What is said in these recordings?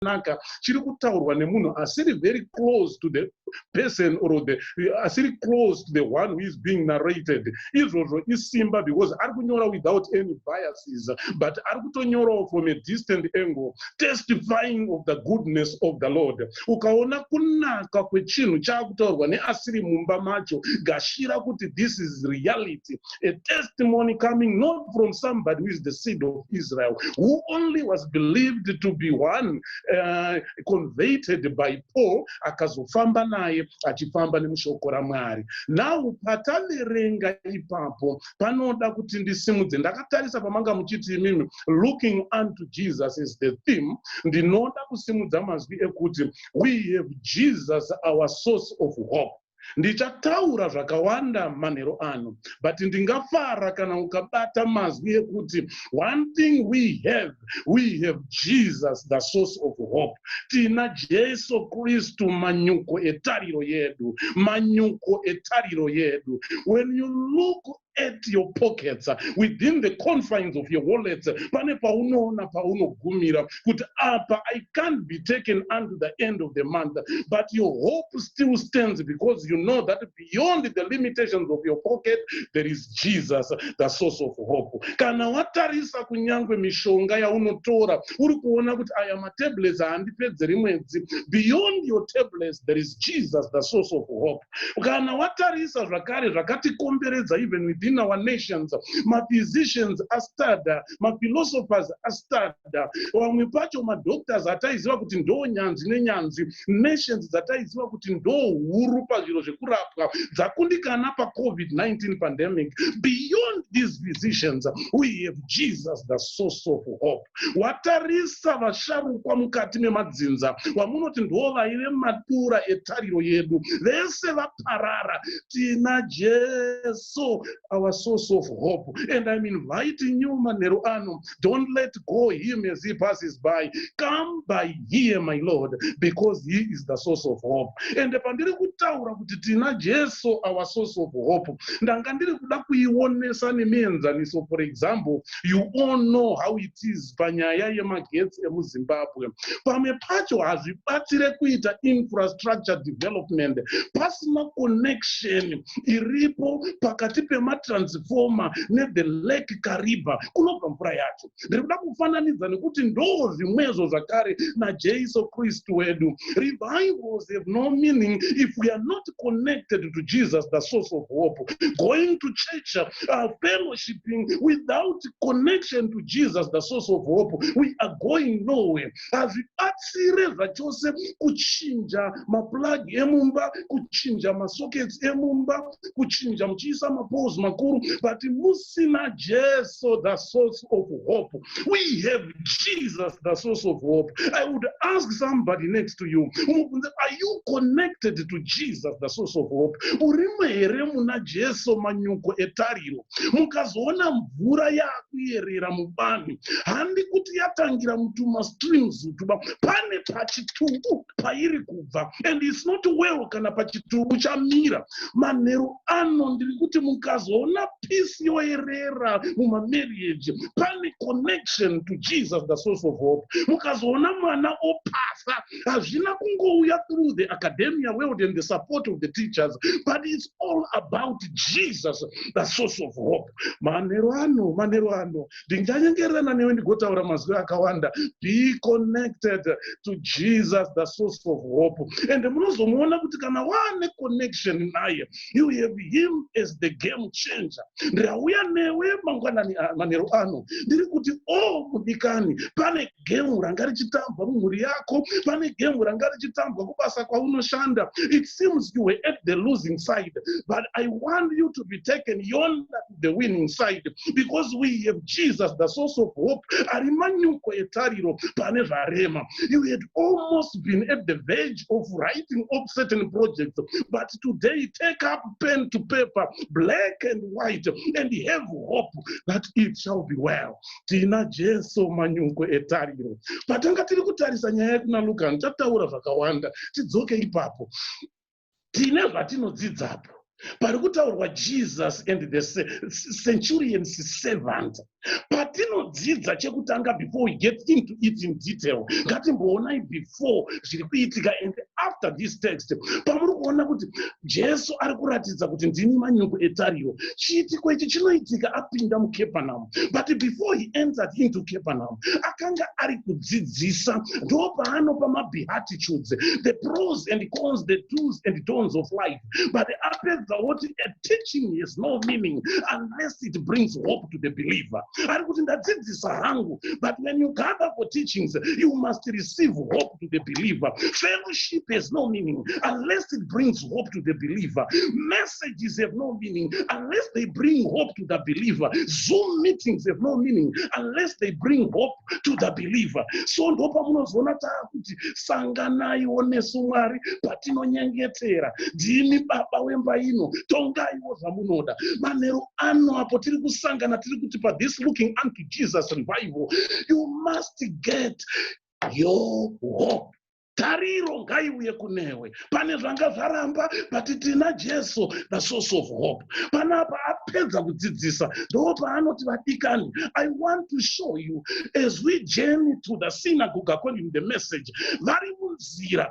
zvakanaka chiri kutaurwa nemunhu asiri very close to the person or the asiri close to the one who is being narrated izvozvo isimba because ari kunyora without any biases but ari kutonyorawo from a distant angle testifying of the goodness of the lord ukaona kunaka kwechinhu chaakutaurwa neasiri mumba macho gashira kuti this is reality a testimony coming not from somebody who is the seed of Israel, who only was believed to be one uh, converted by Paul, akazofamba naye achifamba nemushoko raMwari. Now pataverenga ipapo panoda kuti ndisimudze ndakatarisa pamanga muchiti imimi looking unto Jesus is the theme ndinoda kusimudza mazwi ekuti we have Jesus our source of hope Ndichataura zvakawanda manheru ano but ndingafara kana ukabata mazwi ekuti one thing we have, we have Jesus the source of hope. Tina Jesu Kristu manyuko etariro yedu, manyuko etariro yedu. When you look at your pockets within the confines of your wallets pane paunoona paunogumira kuti apa i can't be taken unto the end of the month but your hope still stands because you know that beyond the limitations of your pocket there is jesus the source of hope kana watarisa kunyange mishonga yaunotora uri kuona kuti aya matablets haandipedzeri mwedzi beyond your tablets there is jesus the source of hope kana watarisa zvakare zvakatikomberedza even within our nations maphysicians astada maphilosophers astada vamwe pacho madoctors ataiziva kuti ndoo nyanzi nenyanzi nations dzataiziva kuti ndoo huru pazviro zvekurapwa dzakundikana pacovid-19 pandemic beyond these physicians we have jesus the source of hope Watarisa vasharukwa mukati memadzinza, wamunoti ndivo vaive matura etariro yedu, vese vaparara. Tina Jesu, our source of hope. And I'm inviting you manheru ano, don't let go him as he passes by. Come by here, my Lord, because he is the source of hope. And pandiri kutaura kuti tina Jesu, our source of hope, ndanga ndiri kuda kuionesa nemienzaniso, for example, You all know how it is panyaya yemagetsi emuZimbabwe. Pamwe pacho hazvibatsire kuita infrastructure development pasina connection iripo pakati pematransformer nethe lake Kariba kunobva mvura yacho. Ndiri kuda kufananidza nekuti ndoo zvimwezvo zvakare naJesu Kristu wedu. Revivals have no meaning if we are not connected to Jesus, the source of hope. Going to church, uh, fellowship, worshipping without connection to Jesus the source of hope we are going nowhere hazvibatsire zvachose kuchinja maplug emumba kuchinja masockets emumba kuchinja muchiisa mapose makuru but musina Jesu the source of hope we have Jesus, the source of hope. I would ask somebody next to you, are you connected to Jesus, the source of hope? Urimo here muna Jesu manyuko etariro. Mukazoona mvura yakuyerera mubani. Handi kuti yatangira mutuma streams tuba. Pane pachitubu. pairi kubva and its not well kana pachitubu chamira manheru ano ndiri kuti mukazoona peace yoerera mumamarriage pane connection to jesus the source of hope mukazoona mwana opasa hazvina kungouya through the academia world and the support of the teachers but its all about jesus the source of hope manheru ano manheru ano ndinganyengererana newe ndigotaura mazwi akawanda be connected to jesus the source of hope and munozomuona kuti kana waane connection naye you have him as the game changer ndauya newe mangwanani ah, manheru ano ndiri kuti o oh, mudikani pane gemu ranga richitambwa mumhuri yako pane gemu ranga richitambwa kubasa kwaunoshanda it seems you were at the losing side but i want you to be taken yonder the winning side because we have jesus the source of hope ari manyuko etariro pane zvarema you had almost been at the verge of writing up certain projects but today take up pen to paper black and white and have hope that it shall be well tina jesu manyuko etariro patanga tiri kutarisa nyaya yekuna lukani tataura zvakawanda tidzoke ipapo tine zvatinodzidzapo pari kutaurwa jesus and the centurians servant patinodzidza chekutanga before we get into it in detail ngatimboonai before zviri kuitika and after this text pamuri kuona kuti jesu ari kuratidza kuti ndini manyuku etariro chiitiko ichi chinoitika apinda mucapernaum but before he entered into capernaum akanga ari kudzidzisa ndopaanopa mabeatitudes the pros and cons the dos and dons of life but apedza woti a teaching has no meaning unless it brings hope to the believer ari kuti ndadzidzisa hangu but when you gather for teachings you must receive hope hope to the believer. Fellowship has no meaning unless it brings hope to the believer. Messages have no meaning unless they bring hope to the believer. Zoom meetings have no meaning unless they bring hope to the believer. So ndopa munozoona taakuti sanganaiwo nesu Mwari patinonyengetera. Ndimi baba wemba ino, tongaiwo zvamunoda. Manheru ano apo tiri kusangana tiri kuti pa this looking unto Jesus revival, you must get your hope tariro ngaiuye kunewe pane zvanga zvaramba but tina jesu the source of hope panapa apedza kudzidzisa ndo paanoti vadikani i want to show you as we journey to the synagoga calling the message vari munzira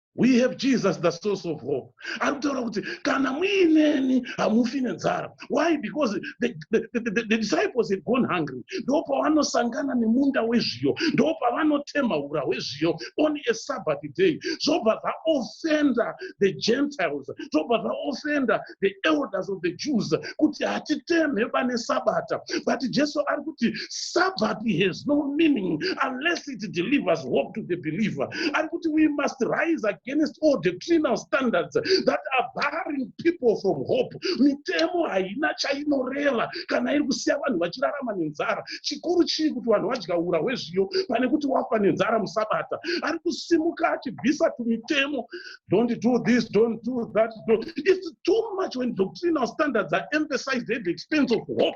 we have jesus the source of hope ari kutaura kuti kana muineni hamufi nenzara why because the, the, the, the, the disciples had gone hungry ndo pavanosangana nemunda wezviyo ndo pavanotema ura hwezviyo on a sabbath day zvobva zvaofenda the gentiles zvobva zvaofenda the elders of the jews kuti hatitemhe pane sabata but jesu ari kuti sabbath has no meaning unless it delivers hope to the believer ari kuti we must rise against all doctrinal standards that are barring people from hope mitemo haina chainoreva kana iri kusiya vanhu vachirarama nenzara chikuru chii kuti vanhu vadya ura hwezviyo pane kuti wafa nenzara musabata ari kusimuka achibvisa tumitemo don't do this, don't do that. Don't. It's too much when doctrinal standards are emphasized at the expense of hope.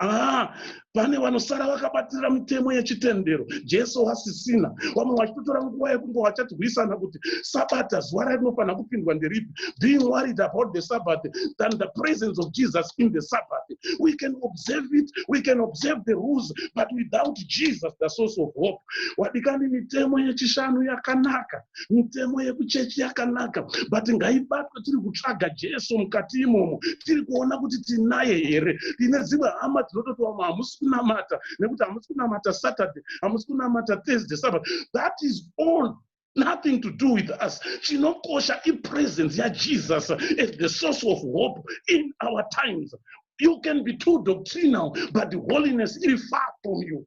Ah, pane vanosara vakabatira mitemo yechitendero jesu wasisina vamwe vachitotora nguva yekunge vachatirwisana kuti sabata zuva rainofanira kupindwa nderipi being worried about the sabbath than the presence of jesus in the sabbath we can observe it we can observe the rules but without jesus the source of hope wadikani mitemo yechishanu yakanaka mitemo yekuchechi yakanaka but ngaibatwe tiri kutsvaga jesu mukati imomo tiri kuona kuti tinaye here tine dzimwe hama dzinototi vamwe hamusi kunamata nekuti hamusi kunamata saturday hamusi kunamata thursday sabbath that is all nothing to do with us chinokosha ipresence yajesus as the source of hope in our times you can be too doctrinal but holiness iri far from you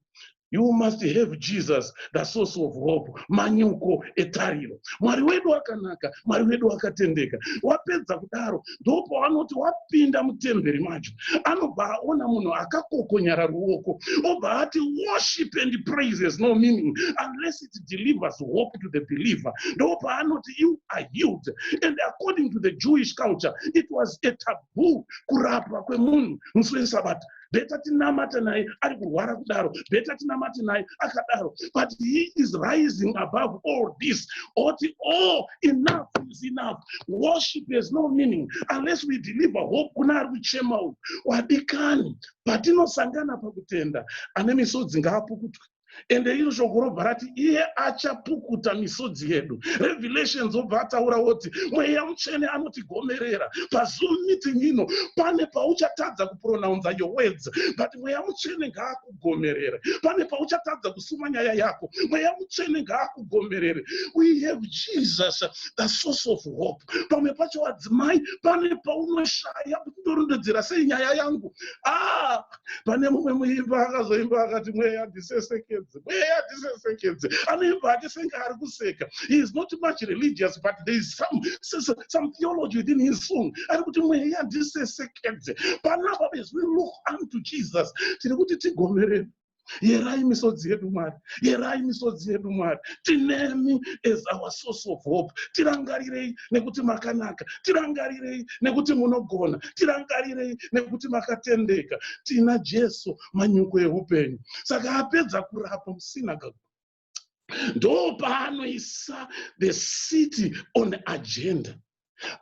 You must have Jesus, the source of hope, manyuko etariro. Mwari wedu akanaka, Mwari wedu akatendeka. Wapedza kudaro, ndopo anoti wapinda mutemberi macho. Anobva aona munhu akakokonyara ruoko, obva ati worship and praise has no meaning unless it delivers hope to the believer. Ndopo anoti you are healed. And according to the Jewish culture, it was a taboo kurapwa kwemunhu musi weSabata. beta tinamate naye ari kurwara kudaro beta tinamate naye akadaro but he is rising above all this oti o oh, enough is enough worship has no meaning unless we deliver hope kuna ari kuchema uyu wadikani patinosangana pakutenda ane misodzi ngaapukutwe ende iro shoko robva rati iye achapukuta misodzi yedu revelations obva ataura woti mweya mutsvene anotigomerera pazoom meeting ino pane pauchatadza kupronounza your words but mweya mutsvene ngaakugomerere pane pauchatadza kusuma nyaya yako mweya mutsvene ngaakugomerere we have jesus the source of hope pamwe pacho vadzimai pane paunoshaya kuti ndorondedzera sei nyaya yangu ah pane mumwe muimba akazoimba akati mweya disesekedze mweya disesekedze anoimba ake senge ari kuseka he is not much religious but there is some, some theology within his song ari kuti mweya disesekedze panapa as we look unto jesus tiri kuti tigovereni yerai misodzi yedu mwari yerai misodzi yedu mwari tinemi as our source of hope tirangarirei nekuti makanaka tirangarirei nekuti munogona tirangarirei nekuti makatendeka tina jesu manyuko eupenyu saka apedza kurapa musinagoga ndopaanoisa the city on agenda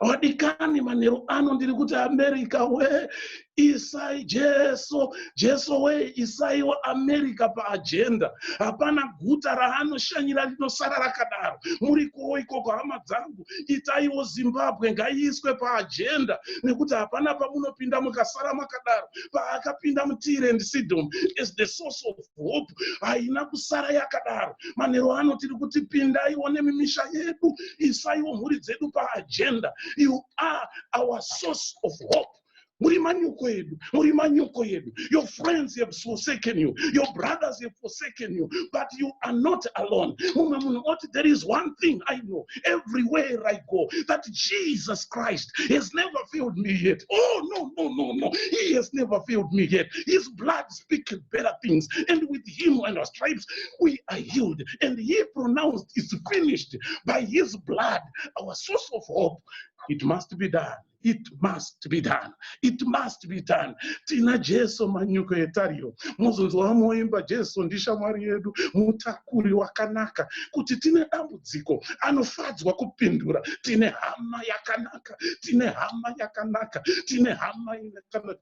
vadikani manheru ano ndiri kuti america we isai jesu jesu we isaiwa america paajenda hapana guta raanoshanyira rinosara rakadaro muri kuwo ikoko hama dzangu itaiwo zimbabwe ngaiiswe paajenda nekuti hapana pamunopinda mukasara makadaro paakapinda mutire and sidom is the source of hope haina kusara yakadaro manero ano tiri kuti pindaiwo nemimisha yedu isaiwo mhuri dzedu paagenda you are our source of hope muri manyuko edu muri manyuko edu your friends have forsaken you your brothers have forsaken you but you are not alone mumwe munhu oti there is one thing i know everywhere i go that jesus christ has never failed me yet oh no no no no he has never failed me yet his blood speak better things and with him and our stripes we are healed and he pronounced it's finished by his blood our source of hope it must be done it must be done it must be done tina jesu manyuko etariro mozonzwa vamoimba jesu ndishamwari yedu mutakuri wakanaka kuti tine dambudziko anofadzwa kupindura tine hama yakanaka tine hama yakanaka tine hama ine kana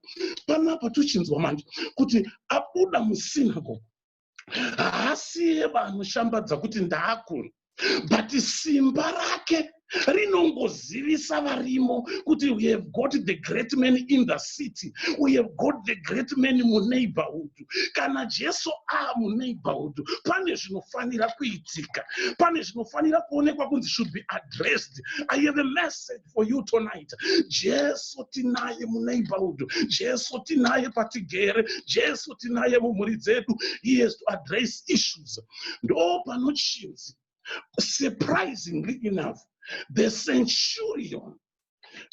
panapa tochinzwa manje kuti abuda musinago haasiye vanoshambadza kuti ndaakuno but simba rake rinongozivisa varimo kuti we have got the great man in the city we have got the great man muneighborhood kana jesu aa muneighborhood pane zvinofanira kuitika pane zvinofanira kuonekwa kunzi should be addressed i have a message for you tonight jesu tinaye muneighborhood jesu tinaye patigere jesu tinaye mumhuri dzedu he has to address issues ndo panochinzi surprisingly enough the centurion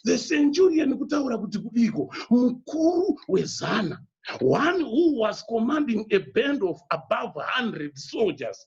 the centurion kutaura kuti kudiko mukuru wezana one who was commanding a band of above 100 soldiers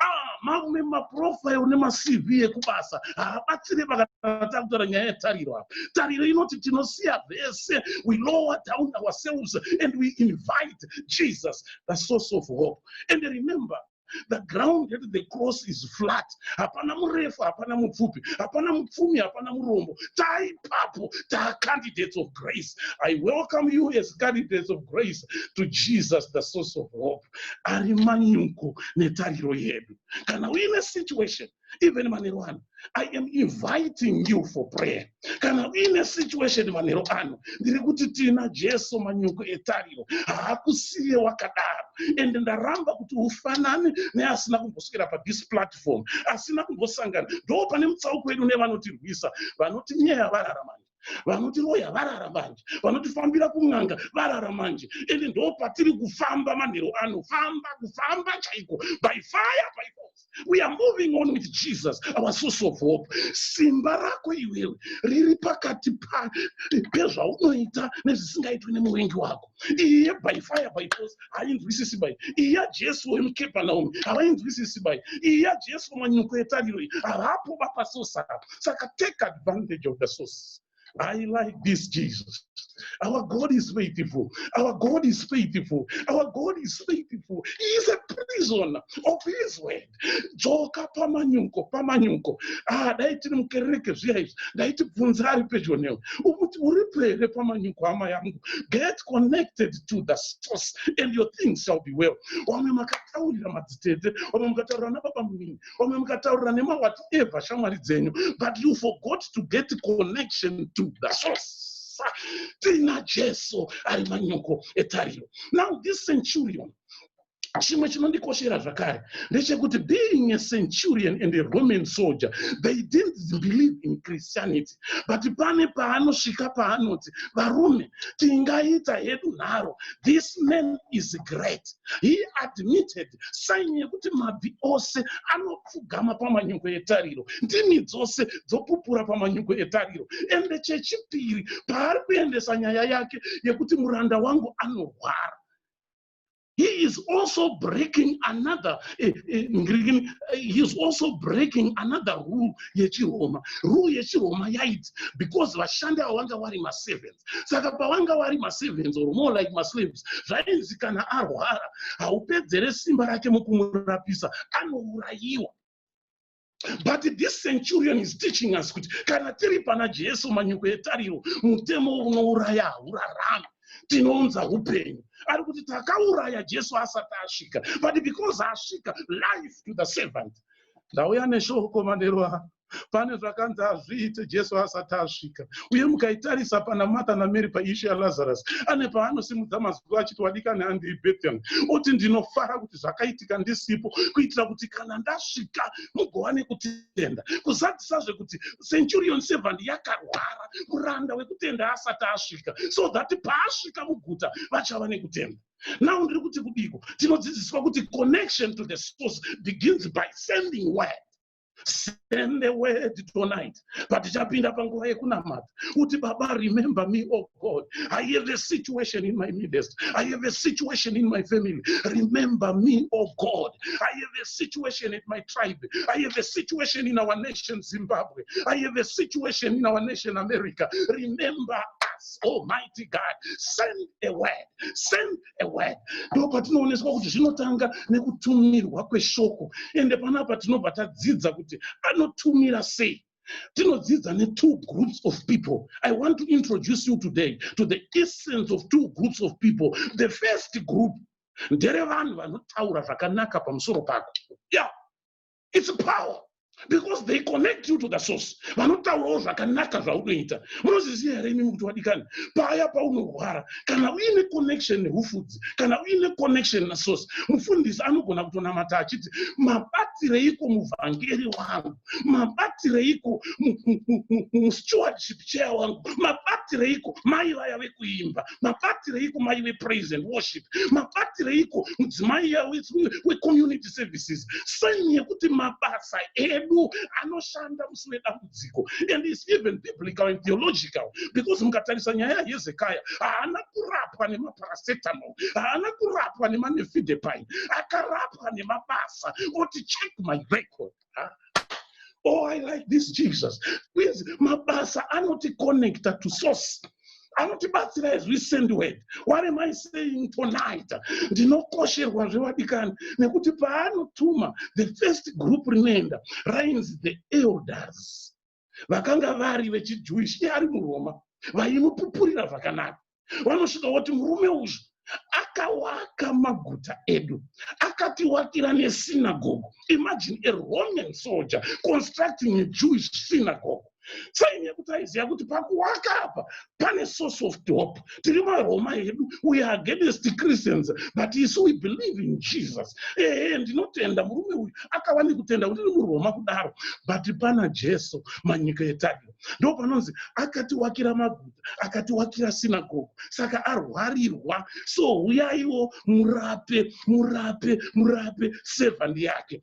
Ah, mamwe maprofile nemacv ekubasa haabatsire pakana takutaura nyaya yetariro apa tariro inoti tinosiya vese we lower down ourselves and we invite jesus the source of hope and remember the ground at the cross is flat hapana murefu hapana mupfupi hapana mupfumi hapana murombo taipapo taacandidates of grace i welcome you as candidates of grace to jesus the source of hope ari manyuko netariro yedu kana uine situation even manero ano i am inviting you for prayer kana uine situation manero ano ndiri kuti tiina jesu manyuko etariro haakusiye wakadaro ende ndaramba kuti ufanane neasina kumboswera pathis platform asina kumbosangana ndo pane mutsauko wedu nevanotirwisa vanotinyeya vararamani vanotiroya varara manje vanotifambira kun'anga varara manje ende ndo patiri kufamba manhero ano famba kufamba chaiko by fire by force we are moving on with jesus our source of hope simba rako iwewe riri pakati pezvaunoita nezvisingaitwi nemuvengi wako iyi yebyfire by force hainzwisisi bai iyi yajesu wemukepanaume havainzwisisi bai iyi yajesu wemanyuko etariro iyi havapo vapasource apo saka take advantage of the source I like this Jesus. Our God is faithful. Our God is faithful. Our God is faithful. He is a prisoner of Israel. dzoka pamanyuko pamanyuko ah dai tiri mukereke zviya izvi ndaiti bvunza ari pedyo newe umuti uripo here pamanyuko hama yangu get connected to the source and your things shall be well wamwe makataurira madzitete wamwe mukataurira nababa munini wamwe mukataurira nemawati eva shamwari dzenyu but you forgot to get connection to the source tiina jesu ari manyuko etariro now this centurion chimwe chinondikoshera zvakare ndechekuti being a centurion and a roman soldier they didn't believe in christianity but pane paanosvika paanoti varume tingaita hedu nharo this man is great he admitted saini yekuti mabvi ose anopfugama pamanyuko etariro ndimi dzose dzopupura pamanyuko etariro ende chechipiri paari kuendesa nyaya yake yekuti muranda wangu anorwara he is also breaking another eh, eh, ngirigini eh, he is also breaking another rule yechiroma rule yechiroma yaiti because vashandi avo vanga vari maservants saka pavanga vari maservants or more like maslaves zvainzi kana arwara haupedzere simba rake mukumurapisa anourayiwa but this centurion is teaching us kuti kana tiri pana jesu manyuko etariro mutemo unouraya haurarami tinounza upenyu ari kuti takauraya jesu asati asvika but because asvika life to the servant ndauya neshoko manero ano pane zvakanzi hazviite jesu asati asvika uye mukaitarisa pana martha namary paishu yalazarus ane paanosimudza mazwi achiti wadikani handei bethel oti ndinofara kuti zvakaitika ndisipo kuitira kuti kana ndasvika mugowane kutenda kuzadzisazve kuti centurion servant yakarwara muranda wekutenda asati asvika so that paasvika muguta vachava nekutenda now ndiri kuti kudiko tinodzidziswa kuti connection to the source begins by sending word send the word tonight patichapinda panguva yekunamata kuti baba remember me oh god i have a situation in my midst i have a situation in my family remember me oh god i have a situation at my tribe i have a situation in our nation zimbabwe i have a situation in our nation america remember us almighty god send a word send ewe ndopatinooneswa kuti zvinotanga nekutumirwa kweshoko ende panapa tinobva tadzidza kuti anotumira sei tinodzidza netwo groups of people i want to introduce you today to the essence of two groups of people the first group nderevanhu vanotaura zvakanaka pamusoro pako ya yeah. its power because they connect you to the source vanotaurawo zvakanaka zvaunoita munozviziva here imimi kuti wadikani paya paunorwara kana uine connection neufudzi kana uine connection nasource mufundisi anogona kutonamata achiti mabatireiko muvhangeri wangu mabatireiko mustewardship chair wangu mabatireiko mai vaya vekuimba mabatireiko mai vepraise and worship mabatireiko mudzimai wecommunity services sign yekuti mabasa edu anoshanda musi wedambudziko and is even biblical and theological because mukatarisa nyaya yahezekaya haana kurapwa nemaparacetamol haana kurapwa nemanefidepine akarapwa nemabasa oti check my record oh i like this jesus please mabasa connect to source anotibatsira as we send word what am i saying tonight ndinokosherwa zvevadikani nekuti paanotuma the first group rinoenda rainzi the elders vakanga vari vechijewish iye ari muroma vaimupupurira zvakanaka vanosvika voti murume uzvi akawaka maguta edu akatiwakira nesinagogo imagine a roman soldier constructing a jewish synagogo sainekuti aiziva kuti pakuwaka apa pane source of top tiri varoma yedu we are against christians but isu we believe in jesus ehe ndinotenda murume uyu akava nekutenda kuti ri muroma kudaro but pana jesu manyika yetariro ndo panonzi akatiwakira maguta akatiwakira sinagogo saka arwarirwa so huyaiwo murape murape murape sevhandi yake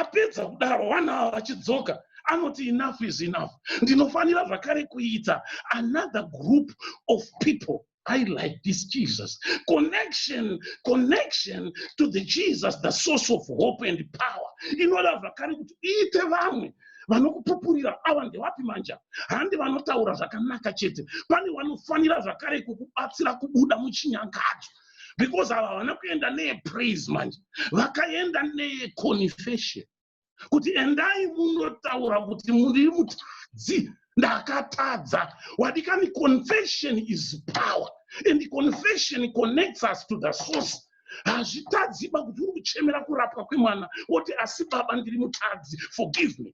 apedza kudaro vana ava vachidzoka anoti enough is enough ndinofanira zvakare kuita another group of people i like this jesus connection connection to the jesus the source of hope and power inoda zvakare kuti iite vamwe vanokupupurira ava ndevapi manja handi vanotaura zvakanaka chete pane vanofanira zvakare kukubatsira kubuda muchinyangadzwa because ava havana kuenda neyepraise manje vakaenda neyeconfession kuti endai munotaura kuti muri mutadzi ndakatadza wadikani confession is power and confession connects us to the source hazvitadziba kuti uri kuchemera kurapwa kwemwana woti asi baba ndiri mutadzi forgive me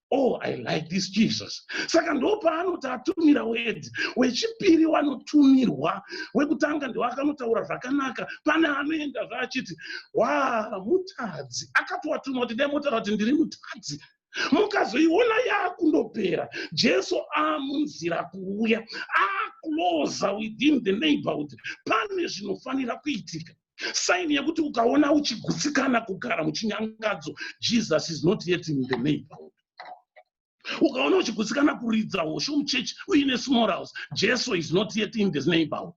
oh i like this jesus saka ndopaanoti atumira word wechipiri wanotumirwa wekutanga ndiwo akanotaura zvakanaka pane anoenda zvaachiti wa mutadzi akatoatuma kuti dai motaura kuti ndiri mutadzi mukazoiona yaakundopera jesu amunzira kuuya akuloza within the neighborhood pane zvinofanira kuitika saini yekuti ukaona uchigutsikana kugara muchinyangadzo jesus is not yet in the neighborhood ukaona uchigutsikana kuridza hosho muchechi uine small house jesu is not yet in this neighborhood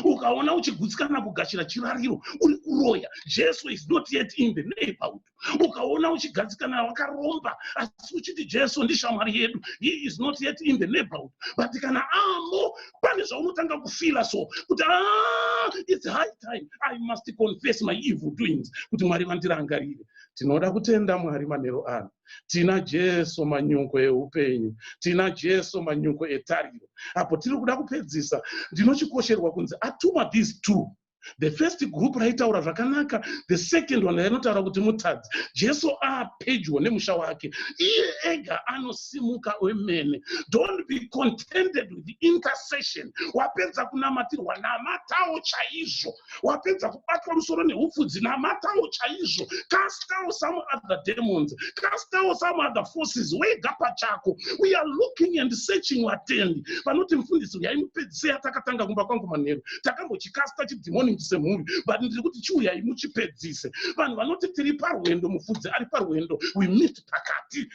ukaona uchigutsikana kugashira chirariro uri kuroya jesu is not yet in the neighborhood ukaona uchigadzikana wakaromba asi uchiti jesu ndishamwari yedu he is not yet in the neighborhood but kana amo pane zvaunotanga kufila so kuti ah, its high time i must confess my evil doings kuti mwari vandirangarire tinoda kutenda mwari manhero ano tina jesu manyuko eupenyu tina jesu manyuko etariro apo tiri kuda kupedzisa ndinochikosherwa kunzi atuma these two the first group raitaura zvakanaka the second one rainotaura kuti mutadzi jesu apedyo nemusha wake iye ega anosimuka wemene don't be contented with the intercession wapedza kunamatirwa namatawo chaizvo wapedza kubatwa musoro neupfudzi namatawo chaizvo castawo some other demons castawo some other forces wega pachako we are looking and searching watendi vanoti mufundisi uyaimupedzisei atakatanga kumba kwangu manheru takambochikasta chidhimoningi semhuri but ndiri kuti chiuyai muchipedzise vanhu vanoti tiri parwendo mufudzi ari parwendo we meet pakati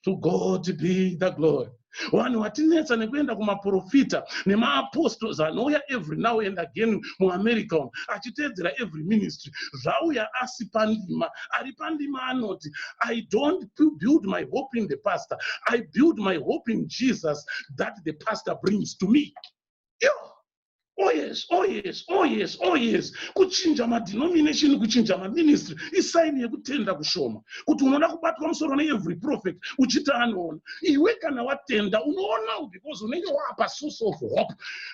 to god be the glory vanhu vatinetsa nekuenda kumaprofita nemaapostles anouya every now and again muamerica uno achiteedzera every ministry zvauya asi pandima ari pandima anoti i don't build my hope in the pastor i build my hope in jesus that the pastor brings to me Yoo. Oh yes, oh yes, oh yes, oh yes. Kuchinja madenomination, kuchinja maministry isaini yekutenda kushoma. Kuti unoda kubatwa musoro neevery prophet uchiti anoona. Iwe kana watenda unoonawo because unenge wapa source of hope.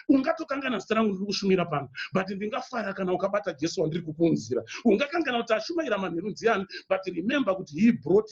Ungatokangana zita rangu ndiri kushumira pano but ndingafara kana ukabata Jesu wandiri kukuunzira. Ungakangana kuti ashumaira manheru ndiani but remember kuti he brought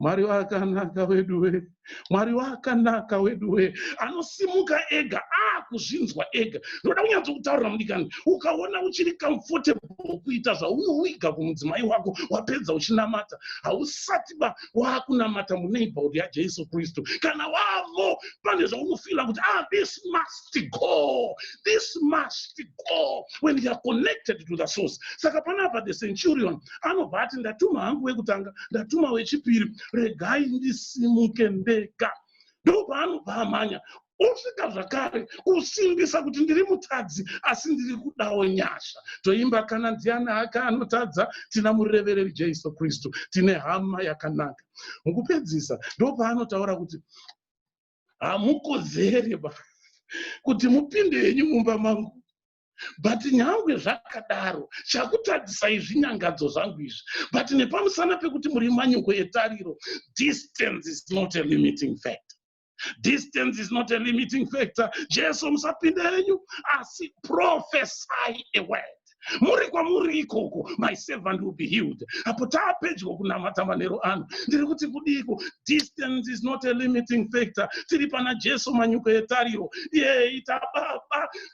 mwari wakanaka weduwe mwari wakanaka weduwe anosimuka ega akuzvinzwa ah, ega ndoda kunyanzo kutaurira mudikani ukaona uchiri comfortable kuita zvaunowiga kumudzimai wako wapedza uchinamata hausati ba waakunamata muneighborhood yajesu kristu kana wavo pane zvaunofila kuti ah this must go this must go when youare connected to the source saka panapa the centurion anobva ati ndatuma hangu wekutanga ndatuma wechipiri regai ndisimuke ndega ndopaanobva amhanya osvika zvakare kusimbisa kuti ndiri mutadzi asi ndiri kudawo nyasha toimba kana ndiani hake anotadza tina murevereri jesu kristu tine hama yakanaka mukupedzisa ndopaanotaura kuti hamukodzere ba kuti mupinde henyu mumba mangu but nyangwe zvakadaro chakutadzisai zvinyangadzo zvangu izvi but nepamusana pekuti muri manyuko etariro distance is not a limiting factor distance is not a limiting factor jesu musapinde yenyu asi profesai a word muri kwamuri ikoko my servant will be healed apo taapedyo kunamata manero ano ndiri kuti kudiiko distance is not a limiting factor tiri pana jesu manyuko yetariro yeita baba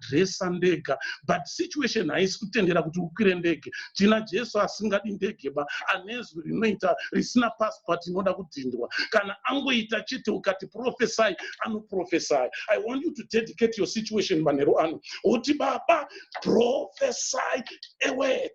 kudresser ndega but situation haisi kutendera kuti ukwire ndege tina jesu asingadi ndege ba anezwi rinoita risina passport inoda kudhindwa kana angoita chete ukati profesai anoprofesai i want you to dedicate your situation manheru ano woti baba profesai eword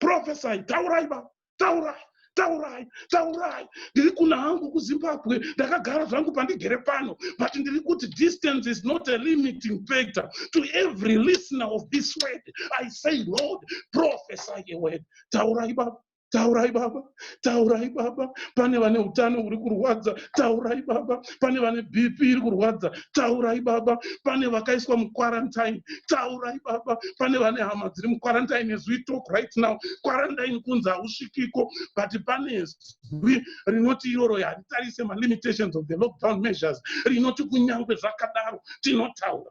profesai taurai ba taurai taurai taurai ndiri kuna hangu kuzimbabwe ndakagara zvangu pandigere pano but ndiri kuti distance is not a limiting factor to every listener of this word i say lord prophesy a word taurai baba taurai baba taurai baba pane vane utano huri kurwadza taurai baba pane vane bp iri kurwadza taurai baba pane vakaiswa muquarantine taurai baba pane vane hama dziri muquarantine as we talk right now quarantine kunzi hausvikiko but pane zwi rinoti iroro haritarise malimitations of the lockdown measures rinoti kunyange zvakadaro tinotaura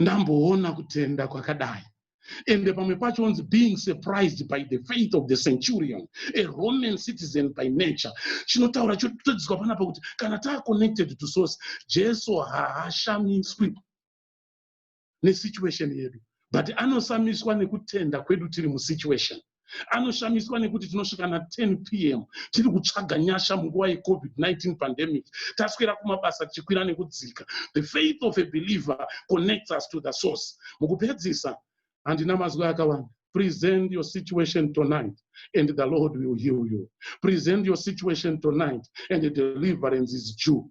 ndamboona kutenda kwakadai ende pamwe pacho onzi being surprised by the faith of the centurion a roman citizen by nature chinotaura chototadziswa panapa kuti kana taaconnected to source jesu haashamiswi nesituation yedu but anosamiswa nekutenda kwedu tiri musituation anoshamiswa nekuti tinosvika na 10 pm tiri kutsvaga nyasha munguva yecovid-19 pandemic taswera kumabasa tichikwira nekudzika the faith of a believer connects us to the source mukupedzisa handina mazwi akawanda present your situation tonight and the lord will heal you present your situation tonight and the deliverance is due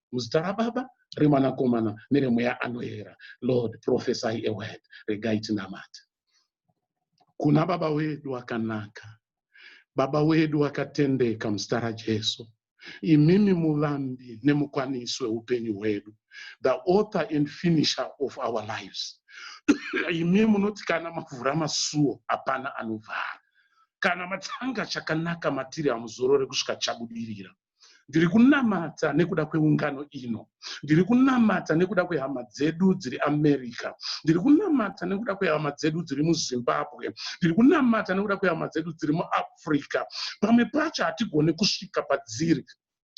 muzita rababa remwanakomana neremweya anoera lord prophesy a word regai tinamate kuna baba wedu akanaka baba wedu akatendeka muzita rajesu imimi muvambi nemukwanisi weupenyu hwedu the author and finisher of our lives imi munoti kana mavhura masuo hapana anovhara kana matanga chakanaka matiri hamuzorore kusvika chabudirira Ndiri kunamata nekuda kweungano ino. Ndiri kunamata nekuda kwehama dzedu dziri America. Ndiri kunamata nekuda kwehama dzedu dziri muZimbabwe. Ndiri kunamata nekuda kwehama dzedu dziri muAfrica. Pamwe pacho hatigone kusvika padziri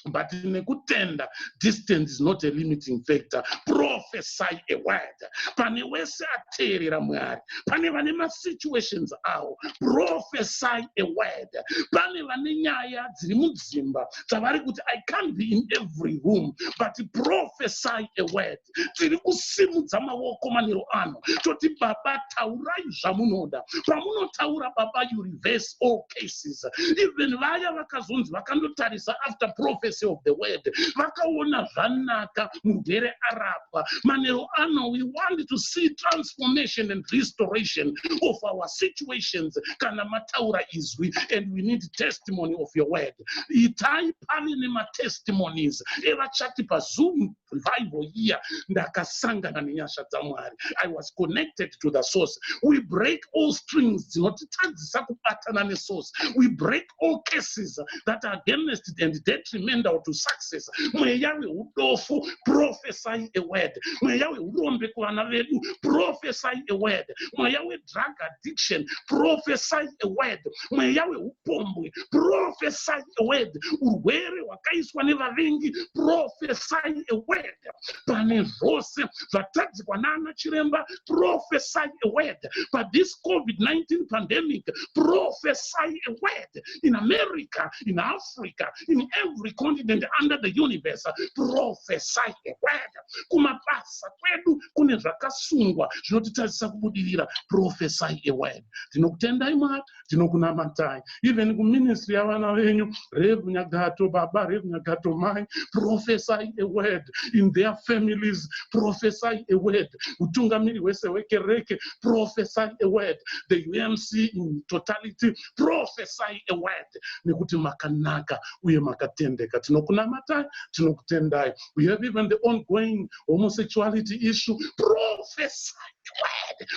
but nekutenda distance is not a limiting factor prophesy a word pane wese ateerera mwari pane vane masituations awo profesai a word pane vane nyaya dziri mudzimba dzavari kuti i can't be in every room but profesai a word tiri kusimudza maoko manero ano toti baba taurai zvamunoda pamunotaura baba you reverse all cases even vaya vakazonzi vakandotarisa after prophecy of the word vakaona zvanaka mugere arab apa manheru ano we want to see transformation and restoration of our situations kana mataura izwi and we need testimony of your word itai pane nematestimonies evachati pazoom revival year ndakasangana nenyasha dzamwari i was connected to the source we break all strings dzinotitadzisa kubatana nesource we break all cases that are against and detrimental to success mweya weudofo prophesy a word mweya weurombe kuvana vedu prophesy a word mweya wedrug addiction prophesy a word mweya weupombwe prophesy a word urwere hwakaiswa nevavengi prophesy a word pane zvose zvatadzikwa nana chiremba prophesy a word pa this covid-19 pandemic prophesy a word in america in africa in every continent under the universe prophesy a word kumabasa kwedu kune zvakasungwa zvinotitadzisa kubudirira prophesy a word tinokutendai mwari tinokunamatai even kuministry yavana venyu rev nyagato baba rev nyagato mai prophesy a word in their families prophesy a word utungamiri hwese hwekereke prophesy a word the umc in totality prophesy a word nekuti makanaka uye makatendeka tinokunamatai tinokutendai we have even the ongoing homosexuality issue prophesy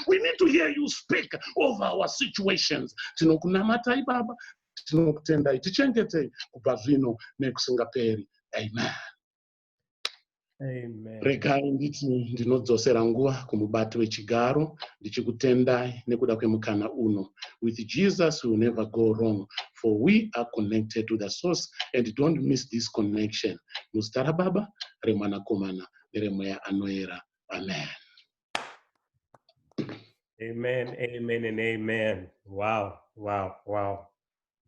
we need to hear you speak over our situations tinokunamatai baba tinokutendai tichengetei kubva zvino nekusingaperi amen regai nditi ndinodzosera nguva kumubati wechigaro ndichikutendai nekuda kwemukana uno with jesus will never go wrong for we are connected to the source and don't miss this connection muzita rababa remwanakomana neremweya anoera Amen. Amen, amen, and amen. Wow, wow, wow.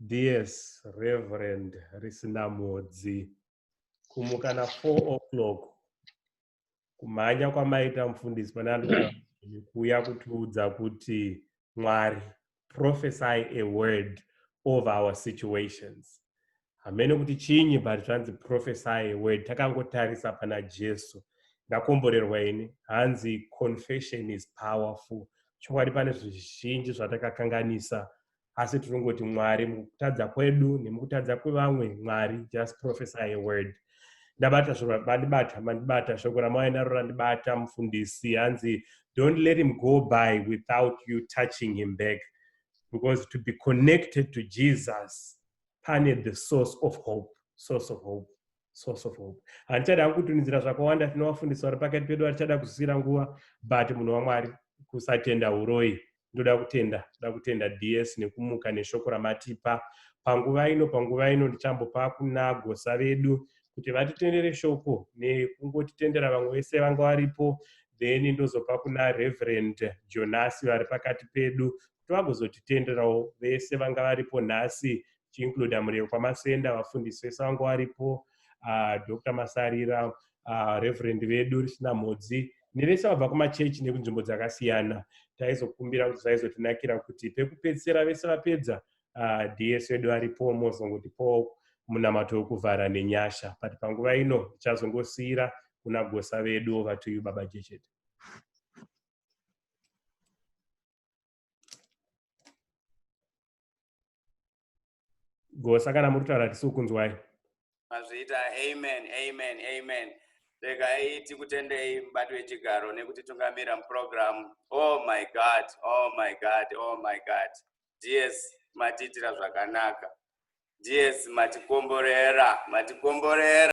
DS Reverend Risinamodzi, kumukana 4 o'clock, kumhanya kwamaita mfundisi pananikuuya kutiudza kuti mwari prophesy a word over our situations hamene kuti chinyi but zvanzi prophesy a word takangotarisa pana jesu ndakomborerwa ini hanzi confession is powerful chokwadi pane zvizhinji zvatakakanganisa asi tinongoti mwari mukutadza kwedu nemukutadza kwevamwe mwari just prophesy a word ndabata shoko mandibata mandibata shoko ramauya naro randibata mufundisi hanzi don't let him go by without you touching him back because to be connected to jesus pane the source of hope source of hope source of hope handichada hangu kutunizira zvakawanda tinovafundisa vari pakati pedu vatichada kuzisira nguva but munhu wamwari kusatenda uroyi ndoda kutenda ndoda kutenda ds nekumuka neshoko ramatipa panguva ino panguva ino ndichambopa kuna gosa vedu kuti vatitendere shoko nekungotitendera vamwe vese vanga varipo then ndozopa kuna reverend jonasi vari pakati pedu kuti vagozotitenderawo vese vanga varipo nhasi chiincluda mureu kwamasenda vafundisi vese vangu varipo uh, ah, dr masarira uh, reverend vedu risina mhodzi nevese vabva kumachechi nekunzvimbo dzakasiyana taizokumbira kuti zvaizotinakira kuti pekupedzisira vese vapedza uh, ds vedu varipo mozongoti po munamato wekuvhara nenyasha but panguva ino tichazongosiyira kuna gosa vedu ovatuyu baba jechete gosa kana muri kutaura tisi kunzwai mazviita amen amen amen regai tikutendei mubati wechigaro nekutitungamira mupurogiramu oh my god oh my god oh my god ds matiitira zvakanaka ds matikomborera matikomborera